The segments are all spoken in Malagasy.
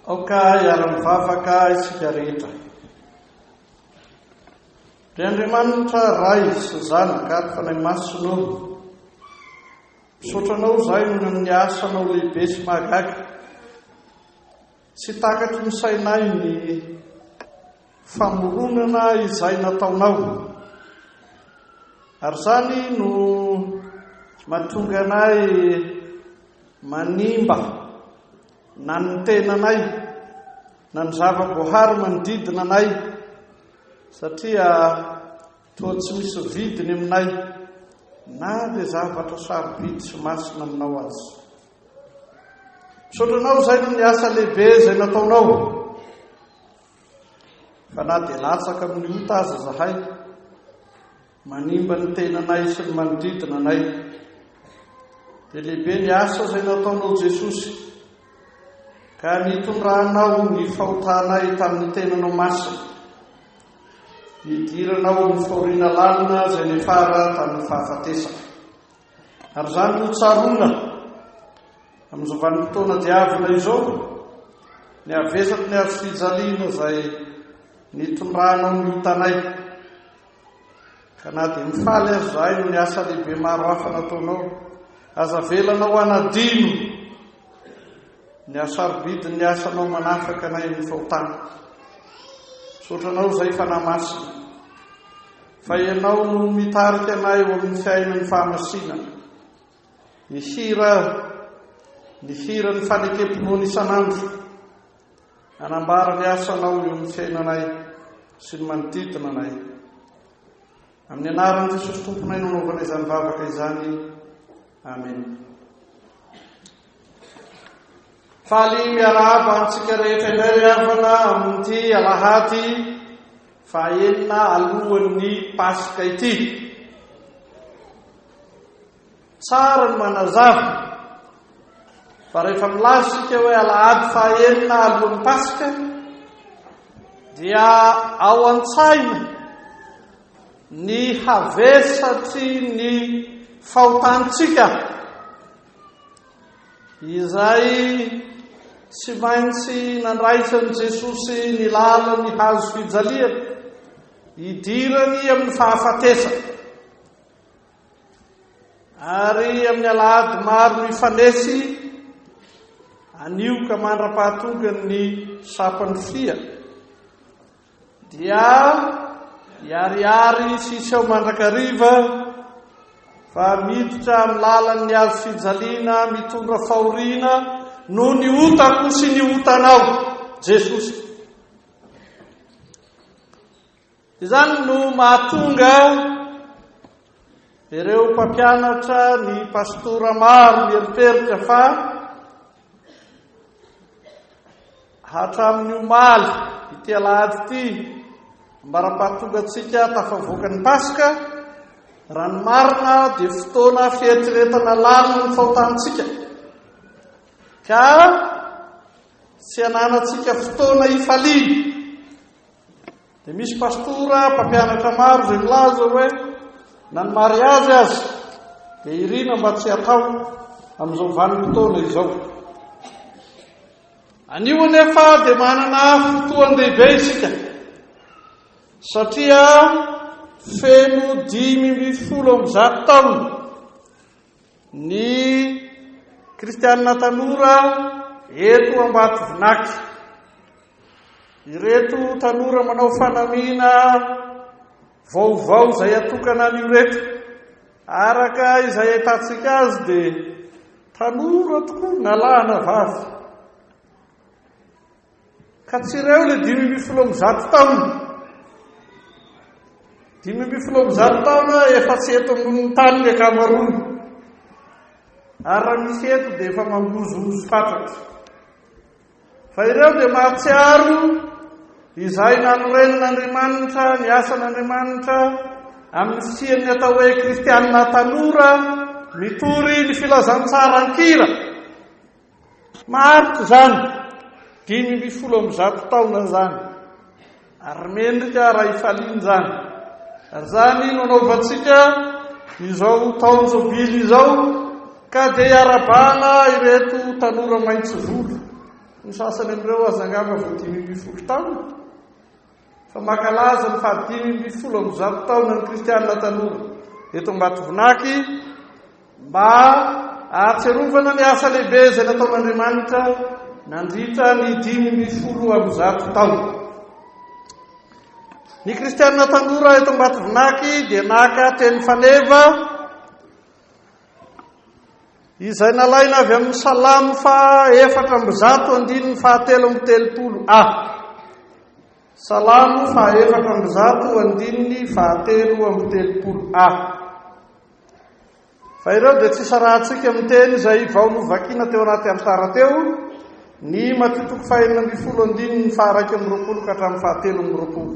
Aoka hiara-mivavaka isika rehetra. Ry Andriamanitra Ray sy Zanaka ary Fanahy Masina ô, misaotra Anao izahay noho ny amin'ny asanao lehibe sy mahagaga. Tsy takatry ny sainay ny famoronana izay nataonao. Ary izany no mahatonga anay Manimba na ny tenanay na ny zava-boahary manodidina anay satria toa tsy misy vidiny aminay na dia zavatra sarobidy sy masina aminao aza. Misaotra anao izay ny asa lehibe izay nataonao. Fa na dia latsaka amin'ny ota aza zahay, Manimba ny tenanay sy ny manodidina anay. Dia lehibe ny asa izay nataonao Jesosy, ka nitondranao ny fahotanay tamin'ny tenanao masina. Nidiranao ny fahoriana lalina izay nefara tamin'ny fahafatesana. Ary izany no tsaroana amin'izao vanim-potoana diavina izao, ny havesaky ny hazo fijaliana izay nitondranao ny otanay. Ka na dia mifaly aza izahay noho ny asa lehibe maro hafa nataonao, aza avelanao hanadino ny hasarobidin'ny asanao manafaka anay amin'ny fahotana. Misaotra anao izay Fanahy Masina, fa ianao no mitarika anay ho amin'ny fiainan'ny fahamasinana. Mihira ny hiran'ny fanekem-pinoana isan'andro, Hanambara ny asanao eo amin'ny fiainanay sy ny manodidina anay. Amin'ny anaran'i Jesosy Tomponay no anaovana izany vavaka izany. Amen. Faly miarahaba antsika rehetra indray ry havana amin'ity alahady fahaenina alohan'ny Paska ity. Tsara ny manazava fa rehefa milaza isika hoe alahady fahaenina alohan'ny Paska dia ao an-tsaina ny havesatry ny fahotantsika izay tsy maintsy nandraisan'i Jesosy ny lalan'ny hazo fijaliana hidirany amin'ny fahafatesana. Ary amin'ny alahady maro mifanesy, anio ka mandra-pahatogan'ny sampan'ny fia, dia hiharihary sy hiseho mandrakariva fa miditra amin'ny lalan'ny hazo fijaliana mitondra fahoriana noho ny otako sy ny otanao, Jesosy. Izany no mahatonga ireo mpampianatra ny pastora maro mieritreritra fa hatramin'ny omaly ity alahady ity ambara-pahatongantsika tafavoaka ny Paska raha ny marina dia fotoana fieritreretana lalina ny fahotantsika ka tsy ananantsika fotoana hifaliana Dia misy pastora mpampianatra maro izay milaza hoe na ny mariazy aza dia irina mba tsy hatao amin'izao vanim-potoana izao. Anio anefa dia manana fotoan-dehibe isika satria feno dimy ambin'ny folo amby zato taona Ny kristiana tanora eto Ambatovinaky. Ireto tanora manao fanamiana vaovao izay atokana an'io reto. Araka izay ahitantsika azy dia tanora tokoa na lahy na vavy. Ka tsy ireo ilay dimy ambin'ny folo amby zato taona. Dimy ambin'ny folo amby zato taona efa tsy eto ambonin'ny tany ny ankamaroany. Ary raha misy eto dia efa mangozohozo fatratra. Fa ireo dia mahatsiaro izay nanorenin'Andriamanitra, ny asan'Andriamanitra amin'ny fisian'ny atao hoe kristianina tanora mitory ny filazantsara an-kira. Martsa izany, dimy ambin'ny folo amby zato taona izany, ary mendrika raha hifaliana izany, ary izany no anaovantsika izao taona jobily izao, ka dia iarabana ireto tanora maitso volo, ny sasany amin'ireo aza angamba vao dimy ambin'ny folo taona. fa mankalaza ny fahadimy ambin'ny folo amby zato taona ny kristiana tanora eto Ambatovinaky mba ahatsiarovana ny asa lehibe izay nataon'Andriamanitra nandritra ny dimy ambin'ny folo amby zato taona. Ny kristiana tanora eto Ambatovinaky dia naka teny faneva Izay nalaina avy amin'ny Salamo faha efatra amby zato andininy faha telo amby telopolo a. Salamo faha efatra amby zato andininy faha telo amby telopolo a. Fa ireo dia tsy isarahantsika amin'ny teny izay vao novakina teo anaty alitara teo, ny Matio toko fahenina ambin'ny folo andininy faha iraika amby roapolo ka hatramin'ny faha telo amby roapolo.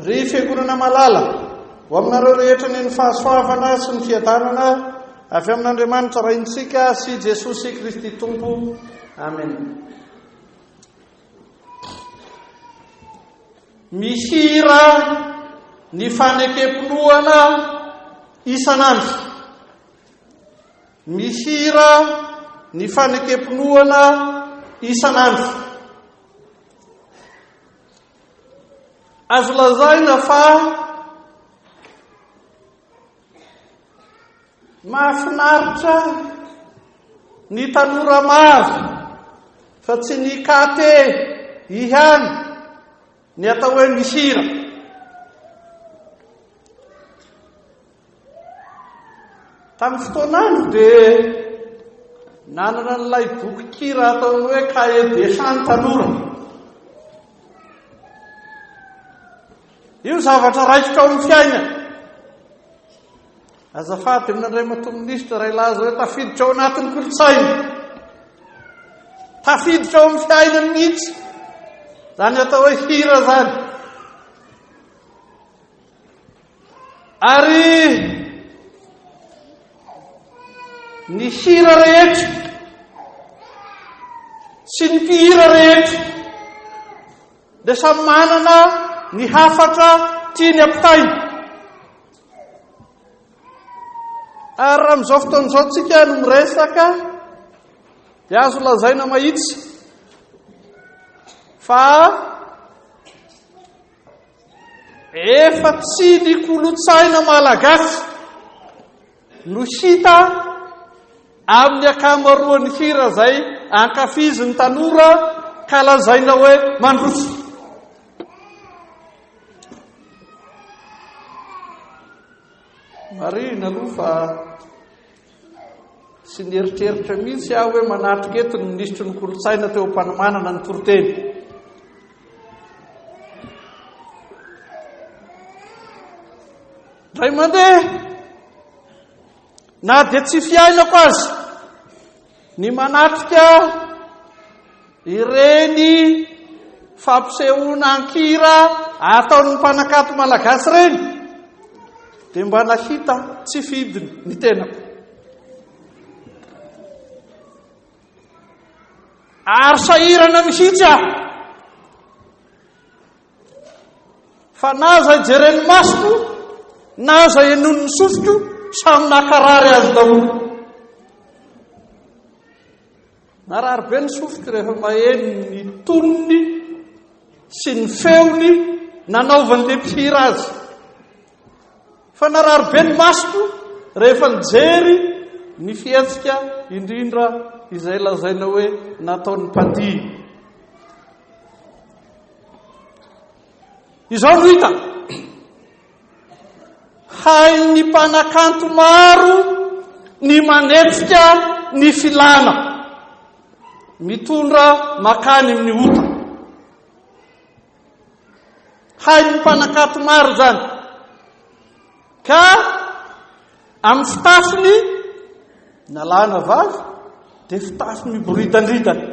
Ry Fiangonana malala, ho aminareo rehetra ny ny fahasoavana sy ny fiadanana avy amin'Andriamanitra Raintsika sy Jesosy Kristy Tompo. Amen. Mihira ny fanekem-pinoana isan'andro. Mihira ny fanekem-pinoana isan'andro. Azo lazaina fa mahafinaritra ny tanora maro fa tsy ny kate ihany ny atao hoe mihira. Tamin'ny fotoan'andro dia nanana an'ilay bokikira ataony hoe Cahier des chants ny tanora. Io zavatra raikitra ao amin'ny fiainana. Azafady amin'Andriamatoa Minisitra iray laza hoe tafiditra ao anatin'ny kolontsaina. Tafiditra ao amin'ny fiainana mihitsy. Izany atao hoe hira izany. Ary ny hira rehetra sy ny mpihira rehetra dia samy manana ny hafatra tiany ampitaina. Ary raha amin'izao fotoana izao tsika no miresaka dia azo lazaina mahitsy fa Efa tsy ny kolotsaina malagasy no hita amin'ny akamaroan'ny hira izay ankafizin'ny tanora ka lazaina hoe mandroso. Marihina aloha fa Tsy nieritreritra mihitsy aho hoe manatrika eto ny minisitry ny kolontsaina teo am-panomanana ny toriteny. Ray mandeha, na dia tsy fiainako azy, ny manatrika Ireny fampisehoana an-kira ataon'ny mpanakanto malagasy ireny dia mba nahita tsy fidiny ny tenako. Ary sahirana mihitsy aho. Fa na izay jeren'ny masoko, na izay enon'ny sofiko, samy nakarary azy daholo. Narary be ny sofiko rehefa maheno ny tonony sy ny feony nanaovan'ilay mpihira azy. Fa narary be ny masoko rehefa nijery ny fihetsika indrindra izay lazaina hoe nataon'ny mpandihy. Izao no hita. Hain'ny mpanakanto maro ny manetsika ny filana, mitondra makany amin'ny ota. Hain'ny mpanakanto maro izany. Ka amin'ny fitafiny na lahy na vavy dia fitafy miboridandridana.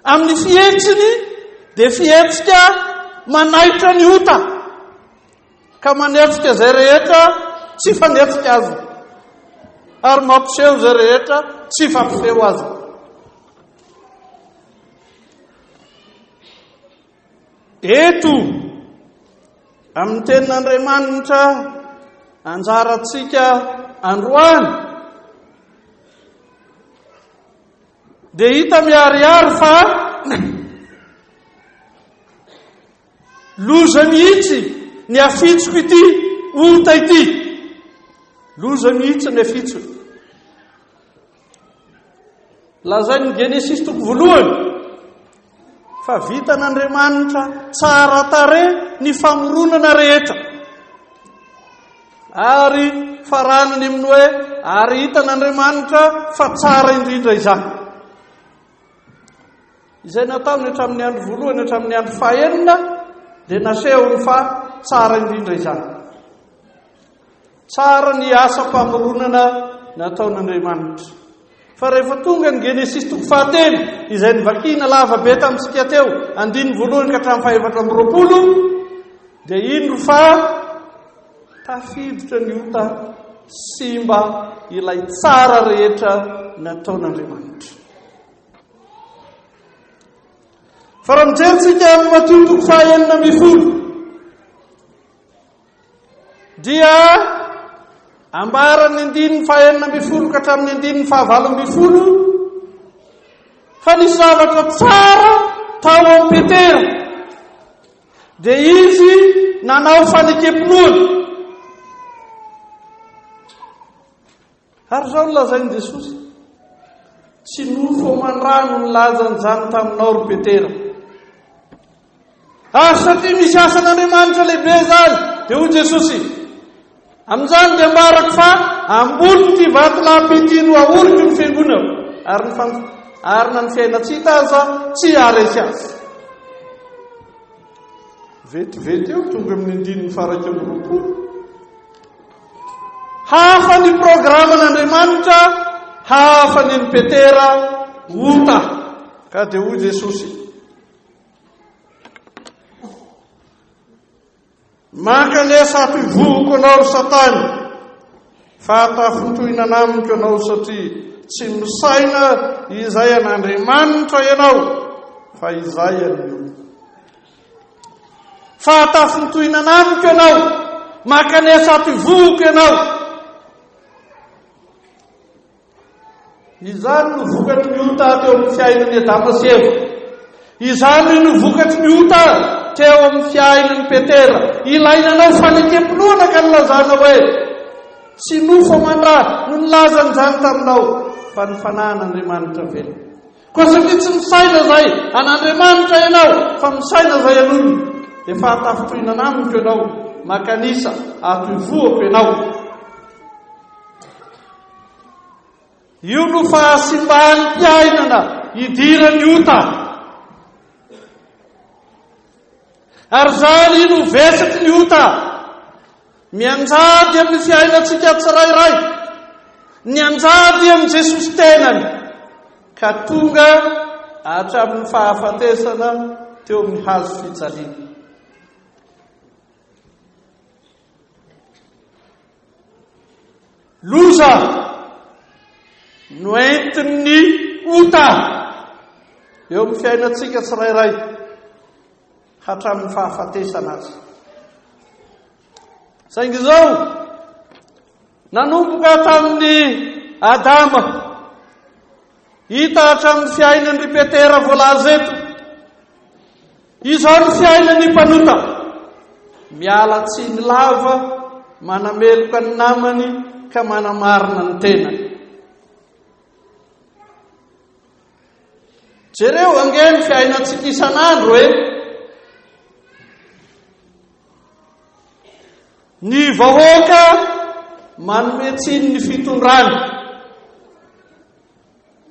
Amin'ny fihetsiny dia fihetsika manaitra ny ota ka manetsika izay rehetra tsy fanetsika azy ary mampiseho izay rehetra tsy fampiseho azy. Eto amin'ny tenin'Andriamanitra anjarantsika androany Dia hita miharihary fa loza mihitsy ny afitsoko ity ota ity. Loza mihitsy ny afitsoko. Lazain'ny Genesisy toko voalohany. Fa vitan'Andriamanitra tsara tarehy ny famoronana rehetra. Ary faranany amin'ny hoe ary hitan'Andriamanitra fa tsara indrindra izany. Izay nataony hatramin'ny andro voalohany hatramin'ny andro fahenina dia nasehony fa tsara indrindra izany. Tsara ny asam-pamoronana nataon'Andriamanitra. Fa rehefa tonga ny Genesisy toko fahatelo, izay nivakiana lava be tamintsika teo, andininy voalohany ka hatramin'ny fahefatra amby roapolo, dia indro fa tafiditra ny ota simba ilay tsara rehetra nataon'Andriamanitra. Fa raha mijerintsika amin'ny Matio toko fahenina ambin'ny folo, dia ambaran'ny andininy fahenina ambin'ny folo ka hatramin'ny andininy fahavalo ambin'ny folo fa nisy zavatra tsara tao amin'ny Petera dia izy nanao fanekempinoana Ary izao no lazain'i Jesosy, Tsy nofo aman-drano nilaza an'izany taminao ry Petera. Ary satria misy asan'Andriamanitra lehibe izany, dia hoy Jesosy, Amin'izany dia ambarako fa amboly ity vatolampy ity no ahoriko ny fiangonako, ary ny fan... ary na ny fiaina tsy hita aza tsy haharesy azy. Vetivety eo, tonga amin'ny andininy farak'eo roapolo. Hafa ny programan'Andriamanitra, hafa ny an'i Petera, ota. Ka dia hoy Jesosy, Mankanesa hampivohoko anao ry Satana, fa tafintohina anamiko ianao satria tsy misaina izay an'Andriamanitra ianao, fa izay an'ny Fa hatafintohinana amiko ianao, mankanesa ato ivohoko ianao. Izany no vokatry ny ota teo amin'ny fiainan'i Adama sy Eva. Izany no vokatry ny ota teo amin'ny fiainan'i Petera. Ilainanao fanekem-pinoana ka nilazana hoe tsy nofo aman-dra no nilazany izany taminao fa ny fanahin'Andriamanitra velona. Koa satria tsy misaina izay an'Andriamanitra ianao, fa misaina izay an'olona, dia fahatafintohinana amiko ianao, makanisa ato ivohoko ianao. Io no fahasimban'ny mpiainana idiran'ny ota. Ary izany no vesatry ny ota. Mianjady amin'ny fiainantsika tsirairay, nianjady amin'i Jesosy tenany, ka tonga hatramin'ny fahafatesana teo amin'ny hazo fijaliana. Loza noentin'ny ota eo amin'ny fiainantsika tsirairay. hatramin'ny fahafatesana aza. Saingy izao, nanomboka tamin'ny Adama, hita hatramin'ny fiainan'ny Petera voalaza eto, izao ny fiainan'ny mpanota, miala tsiny lava, manameloka ny namany ka manamarina ny tenany. Jereo ange ny fiainantsika isan'andro e! Ny vahoaka manome tsiny ny fitondrany.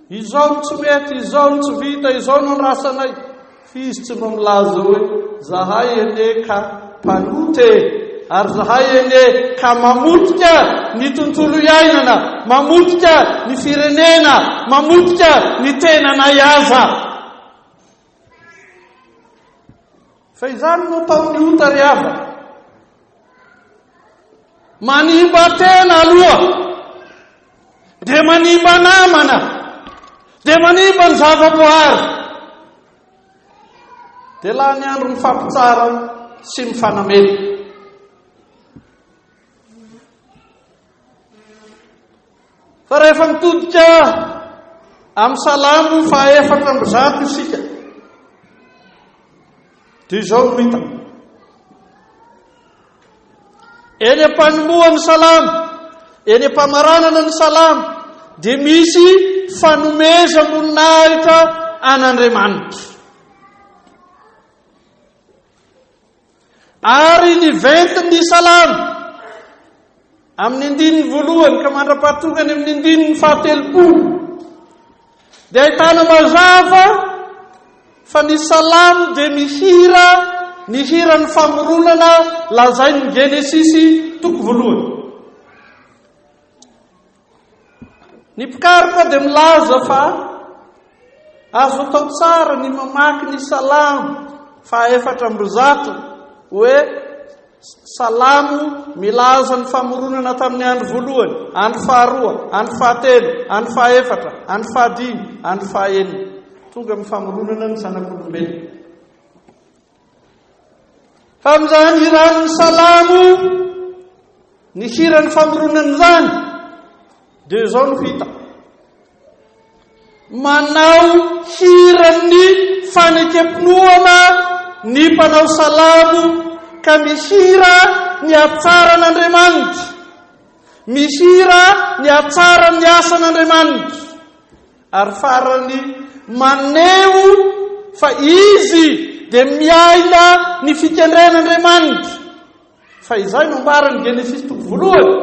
Izao no tsy mety, izao no tsy vita, izao no rasanay. F'izy tsy mba milaza hoe, Zahay anie ka mpanota e! ary Zahay anie ka mamotika ny tontolo iainana, mamotika ny firenena, mamotika ny tenanay aza. Fa izany no ataon'ny ota ry havana. Manimba tena aloha, dia manimba namana, dia manimba ny zavaboary. Dia lany andro mifampitsara sy mifanamena. Fa rehefa mitodika amin'ny Salamo fahaefatra amby zato isika, dia izao no hita. Eny am-panombohan'ny Salamo, eny am-pamaranana ny Salamo, dia misy fanomezam-boninahitra an'Andriamanitra. Ary ny ventin'ny Salamo, amin'ny andininy voalohany ka mandra-pahatonga any amin'ny andininy fahatelopolo, dia ahitana mazava fa ny Salamo dia mihira ny hiran'ny famoronana lazain'ny Genesisy toko voalohany. Ny mpikaroka dia milaza fa azo atao tsara ny mamaky ny salamo fahaefatra amby zato hoe salamo milaza ny famoronana tamin'ny andro voalohany, andro faharoa, andro fahatelo, andro fahaefatra, andro fahadimy, andro fahaenina. Tonga amin'ny famoronana ny zanak'olombelona. Tamin'izany hiran'ny Salamo ny hiran'ny famoronana izany dia izao no hita. Manao hiran'ny fanekem-pinoana ny mpanao salamo ka mihira ny hatsaran'Andriamanitra. Mihira ny hatsaran'ny asan'Andriamanitra. Ary farany, maneho fa izy dia miaina ny fikendren'Andriamanitra. Fa izay no ambaran'i Genesisy toko voalohany.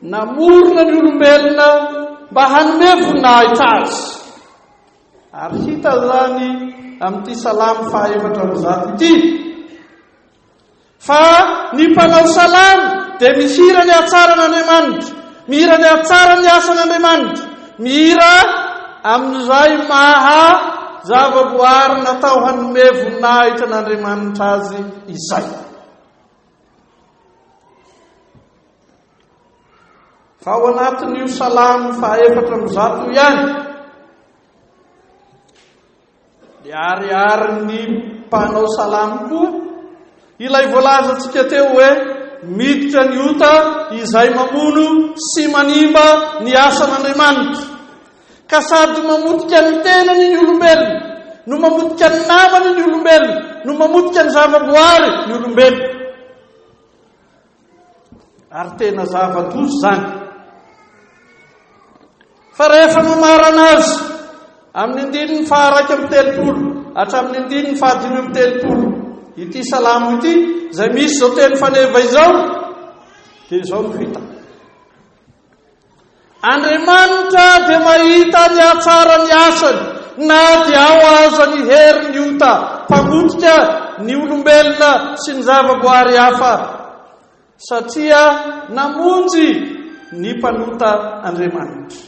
Namorona ny olombelona mba hanome voninahitra azy. Ary hita izany amin'ity salamo fahaefatra amby zato ity. Fa ny mpanao salamo dia mihira ny hatsaran' Andriamanitra, mihira ny hatsaran' ny asan' Andriamanitra, mihira amin' izay maha zavaboary natao hanome voninahitra an' Andriamanitra azy izay. Fa ao anatin' io salamo fahaefatra amby zato io ihany, Niharihary ny mpanao salamo koa ilay voalazantsika teo hoe miditra ny ota izay mamono sy manimba ny asan'Andriamanitra. Ka sady mamotika ny tenany ny olombelona, no mamotika ny namany ny olombelona, no mamotika ny zavaboary ny olombelona. Ary tena zava-doza izany. Fa rehefa nomarana azy amin'ny andininy faharaika amin'ny telopolo hatramin'ny andininy fahadimy amin'ny telopolo ity salamo ity izay misy izao teny faneva izao dia izao no fita Andriamanitra dia mahita ny hatsaran'ny asany na dia ao aza ny herin'ny ota mpamotika ny olombelona sy ny zavaboary hafa, satria namonjy ny mpanota Andriamanitra.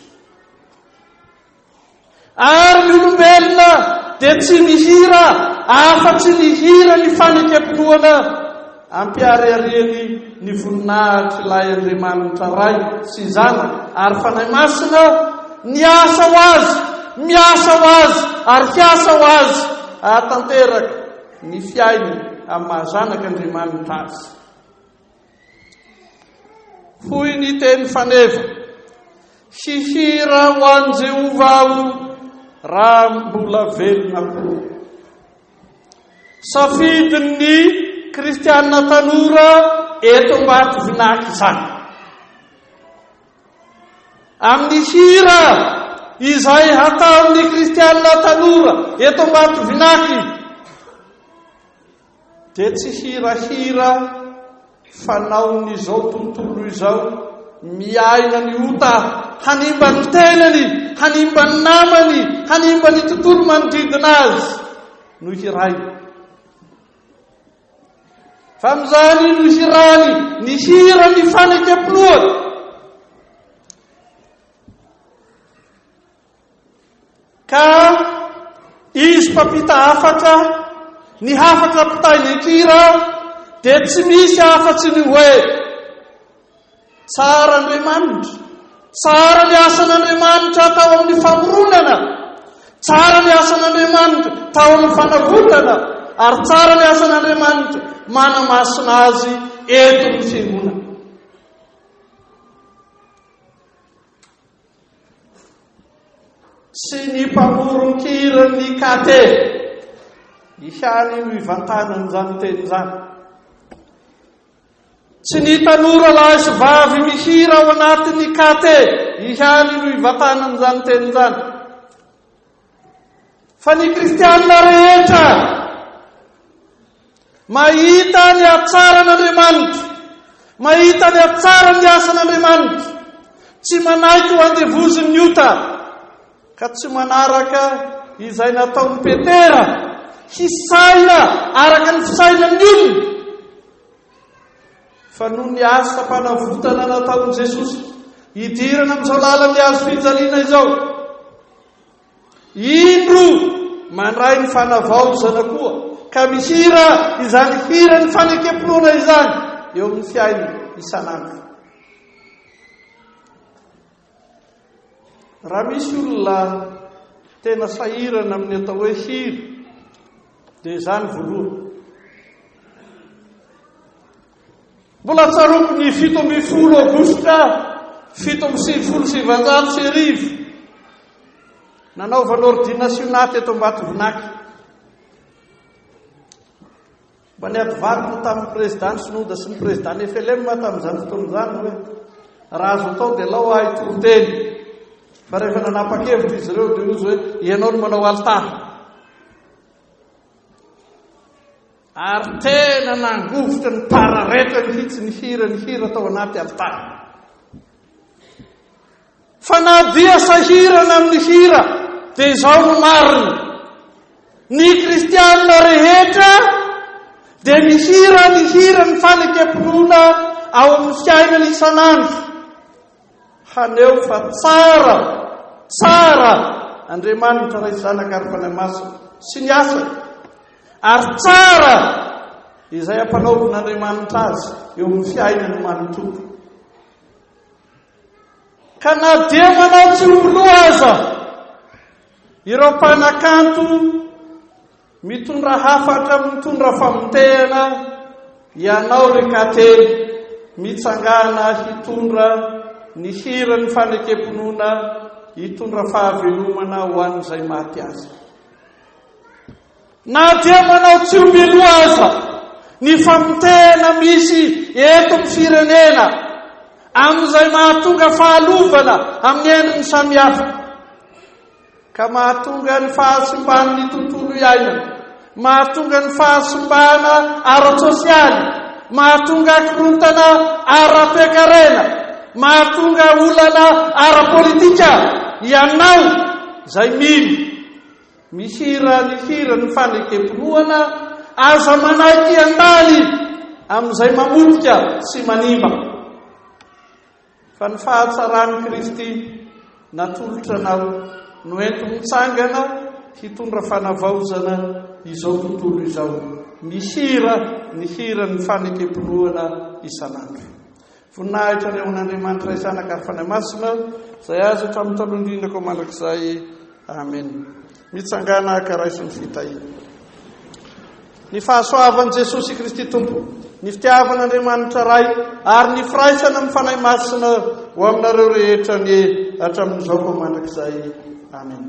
Ary ny olombelona dia tsy mihira afa-tsy ny hiran'ny fanekempinoana ampiharihariany ny voninahitr'Ilay Andriamanitra Ray sy Zanaka ary Fanahy Masina, Niasa ho Azy, miasa ho Azy, ary hiasa ho Azy hahatanteraka ny fiainany amin'ny maha-Zanak'Andriamanitra Azy. Hoy ny teny faneva, Hihira ho an'i Jehovah aho raha mbola velona koa. Safidin'ny Kristianina tanora eto Ambatovinaky izany. Amin'ny hira izay hataon'ny Kristianina tanora eto Ambatovinaky, Dia tsy hirahira fanaon'izao tontolo izao miaina ny ota hanimba ny tenany, hanimba ny namany, hanimba ny tontolo manodidina azy no hirahiny. Fa amin'izany no hirany ny hira ny fanekempinoana. Ka izy mpampita hafatra, ny hafatra mpitahy ny kira dia tsy misy afa-tsy ny hoe, Tsara Andriamanitra, tsara ny asan'Andriamanitra tao amin'ny famoronana, tsara ny asan'Andriamanitra tao amin'ny fanavotana, ary tsara ny asan'Andriamanitra manamasina azy eto amin'ny fiangonana. sy ny mpamoron-kiran'ny KT ihany no hivantanana izany teny izany. Tsy ny tanora lahy sy vavy mihira ao anatin'ny KT ihany no hivantanana izany teny izany. Fa ny kristiana rehetra mahita ny hatsaran'Andriamanitra, mahita ny hatsaran'ny asan'Andriamanitra, tsy manaiky ho andevozin'ny ota, ka tsy manaraka izay nataon'i Petera, hisaina araka ny fisainan'ny olona, fa noho ny asam-panavotana nataon'i Jesosy, hidirana amin'izao lalan'ny hazo fijaliana izao. Indro mandray ny fanavaozana koa ka mihira izany hiran'ny fanekem-pinoana izany eo amin'ny fiainana isan'andro. Raha misy olona tena sahirana amin'ny atao hoe hira dia izany voalohany. Mbola tsaroako ny fito ambin'ny folo aogositra fito amby sivifolo sy sivanjato sy arivo, nanaovana ordinasiona teto Ambatovinaky. Mba niadivariko tamin'ny président Sinoda sy ny président FLM tamin'izany fotoana izany hoe raha azo atao dia lao ahy toriteny. Fa rehefa nanapa-kevitra izy ireo dia hozy hoe ianao no manao alitara. Ary tena nangovitra ny pararetra mihitsy ny hira ny hira tao anaty alitara. Fa na dia sahirana amin'ny hira dia izao no marina. Ny kristianina rehetra dia mihira ny hira ny fanekem-pinoana ao amin'ny fiainana isan'andro. Haneho fa tsara, tsara Andriamanitra Ray, Zanaka ary Fanahy Masina sy ny asany, ary tsara izay ampanaovin'Andriamanitra azy eo amin'ny fiainany manontolo. Ka na dia manao tsy ho loha aza ireo mpanakanto Mitondra hafatra mitondra famotehana ianao ry Kately mitsangana hitondra ny hiran'ny fanekem-pinoana hitondra fahavelomana ho an'izay maty aza. Na dia manao tsio-bilo aza ny famotehana misy eto amin'ny firenena amin'izay mahatonga fahalovana amin'ny endriny samihafa. ka mahatonga ny fahasimban'ny tontolo iainana, mahatonga ny fahasimbana ara-tsosialy, mahatonga korontana ara-toekarena, mahatonga olana ara-politika ianao izay mino mihira ny hiran'ny fanekem-pinoana, aza manaiky handany amin'izay mamotika sy manimba. Fa ny fahatsaran'i Kristy natolotra anao no enti-mitsangana hitondra fanavaozana izao tontolo izao. Mihira ny hiran'ny fanekem-pinoana isan'andro. Voninahitra ny ho an'Andriamanitra Ray, Zanaka ary Fanahy Masina, izay azy hatramin'ny talohan-drindra koa mandrakizay. Amena. Mitsangàna ka raiso ny fitahiana. Ny fahasoavan'i Jesosy Kristy Tompo, ny fitiavan'Andriamanitra Ray, ary ny firaisana amin'ny Fanahy Masina ho aminareo rehetra anie hatramin'izao koa mandrakizay. Amena.